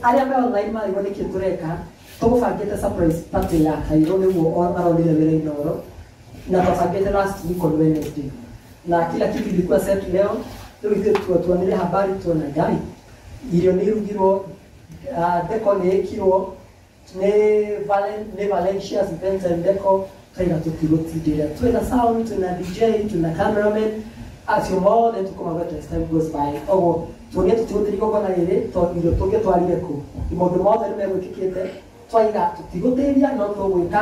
arĩa me online marigwo nĩkĩ tũreka tũgũbangĩte surprise party ya kairũ nĩguo o- arorire wĩra inoro na twabangĩte last week on wednesday na kila kitu ilikuwa set leo rĩu ithuĩ tu- tuonire habari tuona ngai irio nĩ irugirwo ah, theko nĩ ĩkirwo nĩ Valen- nĩ valencia spencer ndeko twĩna tũtigũtindĩra twĩna sound twĩna dj twĩna cameraman acio mothe tũkũmagweta as time goes by koguo tuonie tũtigũtĩri gũkona rĩrĩ tondũ irio tũngĩtwarire kũ maũndũ mothe nĩ megwĩkĩkĩte twaiga tũtigũtĩria no tũgwĩka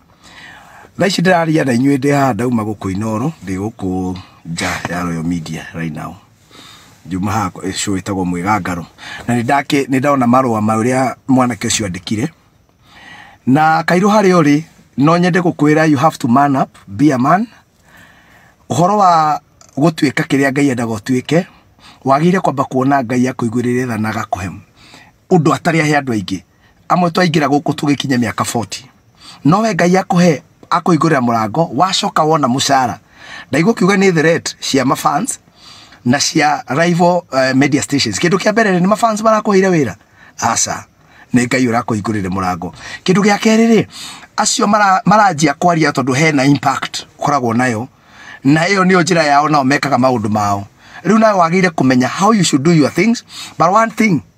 thaa ici ndĩraria na inyuĩ ndĩ haha ndauma gũkũ inoro ndĩ gũkũ nja ya royal media right now njuma haha eh, show ĩtagwo mwĩgangaro na nĩ ndake nĩ ndona marũa marĩa mwanake ũcio andĩkire na kairũ harĩa ũrĩ no nyende gũkwĩra you have to man up be a man ũhoro wa gũtuĩka kĩrĩa ngai endaga ũtuĩke wagĩrĩire kwamba kuona ngai akũiguĩrĩre tha na agakũhe ũndũ atarĩ ahe andũ aingĩ amwe twaingĩra gũkũ tũgĩkinya mĩaka 40 no we ngai akũhe akũhingũrĩra mũrango wacoka wona mũcara ndaigua kiuga nĩ threat cia mafans na cia rival uh, media stations kindu kia mbere ni mafans marakuhire wira asa ni ngai urakuhingurire murango kindu gia keri ri acio mara maranjia kwaria tondu hena impact koragwo nayo na iyo niyo njira yao nao mekaga maundu mao riu nawe wagire kumenya how you should do your things but one thing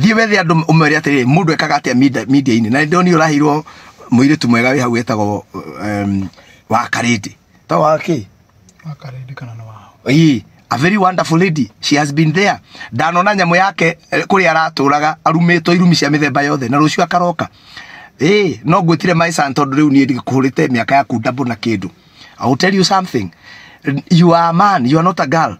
thiä wethe andå å mere atä rä rä må ndå ekaga atä media-inä na nä ndoni å raheirwo må irä tu mwega wä hau wetagwo wakarä ndä to wakä wakarende kana nĩ wao Ii, a very wonderful lady she has been there ndanona nyamå yake eh, kũrĩa aratũraga arumĩtwo irumi cia mĩthemba yothe na rũciũ akaroka Ĩĩ, no ngwĩtire my son tondũ rĩu niĩ ndikũhũrĩte mĩaka yaku ndambũ na kĩndũ I will tell you something you are a man you are not a girl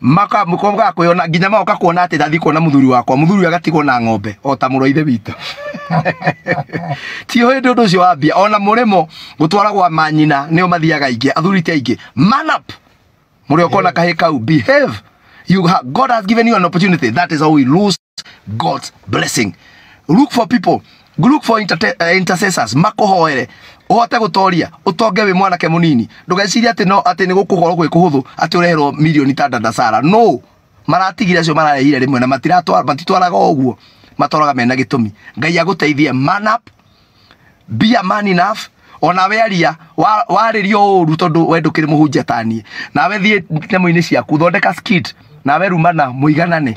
maka mukobwa akoyona nginya maoka kuona ati ndathi kuona muthuri wakwa muthuri agatigwo na ng'ombe o ta mũrũ wa ithe witũ tio hĩndĩ ũndũ ũcio wambia ona mũrĩmo gũtwara gwa manyina nĩo mathiaga aingĩ athuri ti aingĩ man up mũrĩa ũkona kahĩ kau behave you ha, god has given you an opportunity that is how we lose God's blessing. Look for people, look for interte- eh, intercessors makuhoere uhote gutoria utonge wi mwanake munini ndugeciria ati no ati ni gukuhoro gwi kuhuthu ati ureherwo milioni ta ndandasara no maratigire acio mararehire rimwe na matiratwara matitwaraga uguo matoraga mena gitumi ngai aguteithie man up be a man enough ona we aria wa- warĩrio ũru tondũ we ndũkĩrĩ mũhunjia taniĩ nawe thiĩ nyamũ-inĩ ciaku thondeka skit nawe rumana mũiganane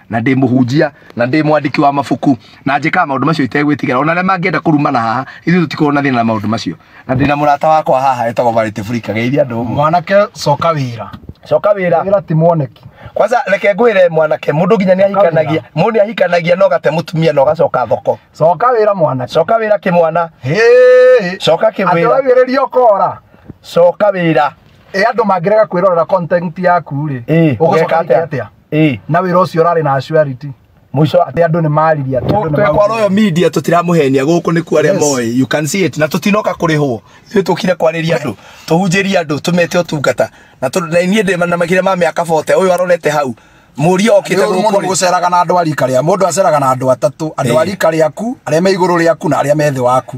na ndä må hunjia na ndä mwandäki wa mabuku na njä kaga maå ndå macio itegwä tigä ra ona arä a mangä enda kå rumana haha ithuä tå tikorwo na thä na na maå ndå macio na ndä na må rata wakwa haha etagwo varä burika geithia andå mwanake coka wĩra coka wä ra wĩra ti mwoneki kwanza reke ngwä re mwanake må ndå nginya nä ahikanagia må ndå nä ahikanagia na å gate må tumia na å gacoka thoko coka wĩra mwanake coka wä ra kä mwana Hĩĩ. coka kä andũ wä ra wagĩrĩria ũkora coka wä ra ĩ andũ mangĩrega kwĩrorera content yaku rĩ Ĩ, ũgũcoka ũgeka atĩa? atĩa Eh. na wä ra å cio å rarä na acuariti må ico atä andå nä mariria kwa royo media tutiramũhenia gũkũ nä kuo arĩa Yes. moĩ you can see it na tũtinoka kũrĩhwo ithuĩ tũkire kwarĩria andũ tũhunjĩrie andå tũmete ũtungata na tũ- na niĩ ndĩ na makire ma mĩaka bote ũyũ arorete hau mũria okĩte må gũkũ ndå rĩ. gå ceraga na andå a rika rä a må ndå aceraga na andå atatå andå a Eh. rika rä aku arä a me igå rå rä aku na arä a me thä waku